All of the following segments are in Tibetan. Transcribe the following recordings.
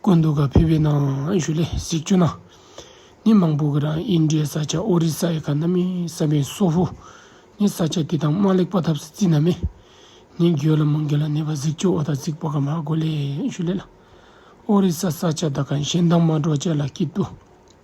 བཀོད་འདུག་ག་ཕེབས་པའི་ནང་བཞུགས་ལས་གཟིགས་བཅུ་ན་ནི་མང་པོ་གི་རང་ཨིན་དྲའི་ས་ཆ་ཨོ་རི་ས་ཡི་ག་ན་མི་ས་པའི་སོ་ཧོ་ནི་ས་ཆ་དེ་དང་མ་ལེགས་པ་ཐབས་སུ་རྩི་ན་མེ་ནི་འགྱོད་ལ་མང་གི་ལ་ནི་བ་གཟིགས་བཅུ་ཨོ་ད་གཟིགས་པ་ག་མ་གོ་ལས་བཞུགས་ལས་ལ་ཨོ་རི་ས་ས་ཆ་ད་ག་གཞན་དང་མ་འགྲོགས་བྱས་ལ་སྐྱིད་དུ།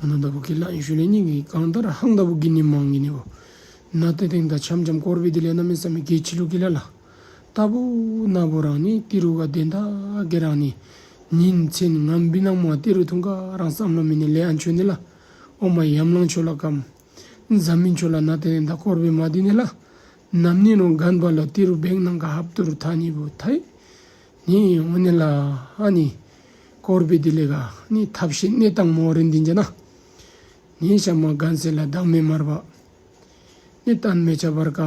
ཨ་ན་ད་བུ་ཀི་ལ་ཡེ་ཤུ་ལས་སྙིང་གི་གང་ལྟར་ཧང་ད་བུ་ཀི་ནི་མང་གི་ནི་བོ། ན་ཏེ་དེང་ད་འཆམ་འཆམ་ཀོར་བི་དི་ལས་ན་མི་ས་མི་ཀེ་ཆི་ལུ་ཀི་ལ་ལ། ད་བུ་ན་བུ་རང་ནི་ཏི་རུ་ག་དེ་ད་གེ་རང་ནི། ཉིན་མཚན་ང་འབི་ནག་མོ་ཏི་རུ་ཐུང་ག་རང་བསམ་ལོ་མི་ནི་ལེ་ཨ་མཆོད་ནི་ལ། ཨོ་མ་ཡམ་ལང་མཆོད་ལ་ཀམ། འཛམ་མི་མཆོད་ལ་ན་ཏེ་དེང་ད་ཀོར་བི་མ་དི་ནི་ལ། ནམ་ནི་རོང་གན་བ་ལོ་ཏི་རུ་བེང་ནང་ག་ཧབ་ཏུ་རུ་ཐ་ནི་བུ་ཐ་ཡེ། ནི་དབུ་ནི་ལ་ཨ་ནི་ཀོར་བི་དི་ལི་ག་ནི་ཐབས་ཤེས་གནས་དང་མོ་རི་འདི་འཇ་ན་ནི་ཤ་མ་གན་སེ་ལ་བདག་མེད་མར་བ་ནི་གཏན་མེ་བྱ་བར་ག་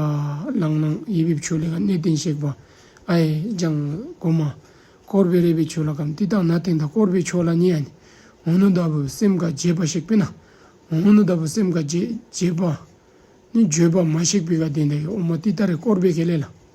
ལང་ནང་ཡི་བི་བྱུ་ལི་ག་གནས་བརྟན་གཤེགས་པ་ཨ་ཡེ་ལྗང་གུ་མ་ཀོར་བི་རེ་བི་བྱུ་ལ་གམ་ཏི་ཏང་ན་ཏིང་ད་ཀོར་བི་བྱུ་ལ་ནི་ཨ་ནི་འུ་ནུ་ད་བུ་སེམས་ག་འབྱེད་པ་ཤེག་པི་ན་འུ་ནུ་ད་བུ་སེམས་ག་འབྱེད་འབྱེད་པ་ནི་འབྱོད་པ་མ་ཤེག་པི་ག་དེ་འདྲ་ཡི་ཨོ་མ་ཏི་ཏ་རེ་ཀོར་བི་གེ་ལེ་ལ་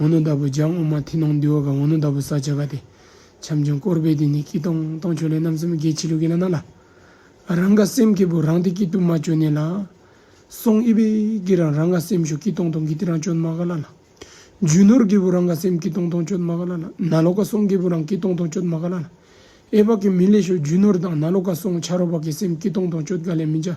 ནོ་ལྟ་བུ་ལྗགས་སྔོ་མ་མཐིང་ནག་འདུལ་བ་དགའ་བོ་ནོ་ལྟ་བུ་ས་བྱ་ག་ཏེ། བྱམས་ཆེན་དཀོར་དཔལ་དེ་ནི་སྐྱིད་སྟོང་སྟོང་ཆོས་ལས་རྣམ་གསུམ་རྒྱལ་ཕྱི་ལུགས་ཀྱི་ལ་ནག་ལ། རང་དགའ་སེམས་སྐྱིད་པོ་རང་སྟེ་སྐྱིད་སྡུག་མ་བཅོས་གནས་ལ། སོང་ཨི་པའི་སྐྱིད་རང་རང་དགའ་སེམས་ཞོ་སྐྱིད་སྟོང་སྟོང་གི་སྟེ་རང་སྤྱོད་མ་ག་ལ་ལ། རྒྱུ་ནོར་སྐྱིད་པོ་རང་དགའ་སེམས་སྐྱིད་སྟོང་སྟོང་སྤྱོད་མ་ག་ལ་ལ། ན་ལོ་ཀ་སོང་སྐྱིད་པོ་རང་སྐྱིད་སྟོང་སྟོང་སྤྱོད་མ་ག་ལ་ལ། ཨེ་བག་གི་མི་ལས་ཞོ་རྒྱུ་ནོར་དང་ན་ལོ་ཀ་སོང་བྱ་རོག་བག་གི་སེམས་སྐྱིད་སྟོང་སྟོང་སྤྱོད་ག་ལས་མི་འཇའ།